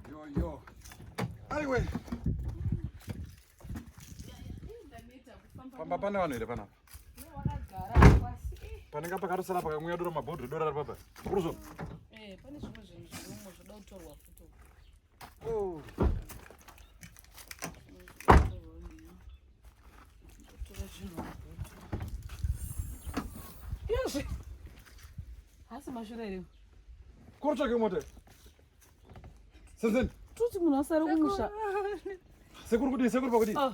Yo, yo. Anyway. Pamba pane vanhu here panapa? Panenge pakarosara pakamwiwa doro mabhodhi dora ripapa. Kuruzo. Eh, pane zvimwe zvinhu zvirimo zvoda kutorwa futi. Oh. Yes. Hasi mashura ere? Kuri tsvake mota. Senzeni. Tuti munhu asare kumusha. Sekuru kudii? Sekuru pakudii? Ah.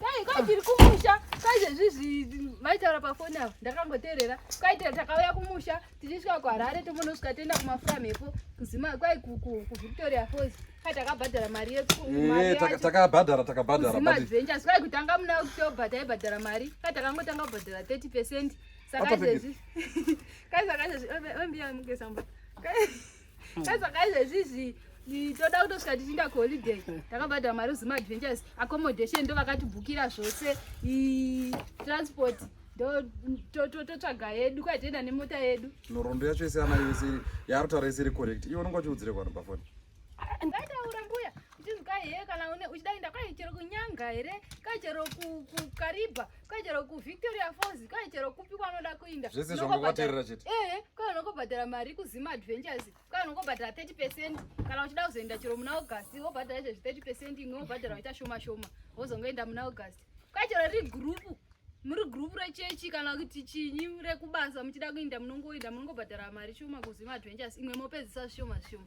Dai kwai tiri kumusha kwai zvezvizvi vaitaura pafoni avo ndakangoteerera kwaitira takauya kumusha tichisvika kuharare tomonosvika toenda kumafura mhepo kuzima kwai kuvictoria falls kai takabhadhara mari yetakabhadhara eh, takabhadharaadventures kwai kutanga muna october taibhadhara mari kai takangotanga kubhadhara 30 percent saka izvezvi kai saka izvezvi ombiya muke samba Saka izvezvizvi toda kutosvika tichiinda kuholiday takabhadhara mari zuma adventures accommodation ndo vakatibhukira zvose transport totsvaga yedu kwai tienda nemota yedu nhoroondo yacho yese ana yese yaarutaura yese iri correct iwe unonga uchiudzire kwano pafoni ndaitaura mbuya Itinzi kai here kana une uchida kuenda kai chero kunyanga here kai chero kukaribha kai chero kuvictoria falls kai chero kupi kwanoda kuinda zvese zvangobaterera chete ehe eh, kai unongobhadhara mari kuzima adventures kai unongobhadhara 30 percent kana uchida kuzoenda chero muna august wobhadhara chezvi 30 percent imwe wobhadhara waita shoma shoma wozongoenda muna august kai chero ri gurupu muri gurupu rechechi kana kuti chinyi rekubasa muchida kuinda munongoinda munongobhadhara mari shoma kuzima adventures imwe mopedzisa zvishoma zvishoma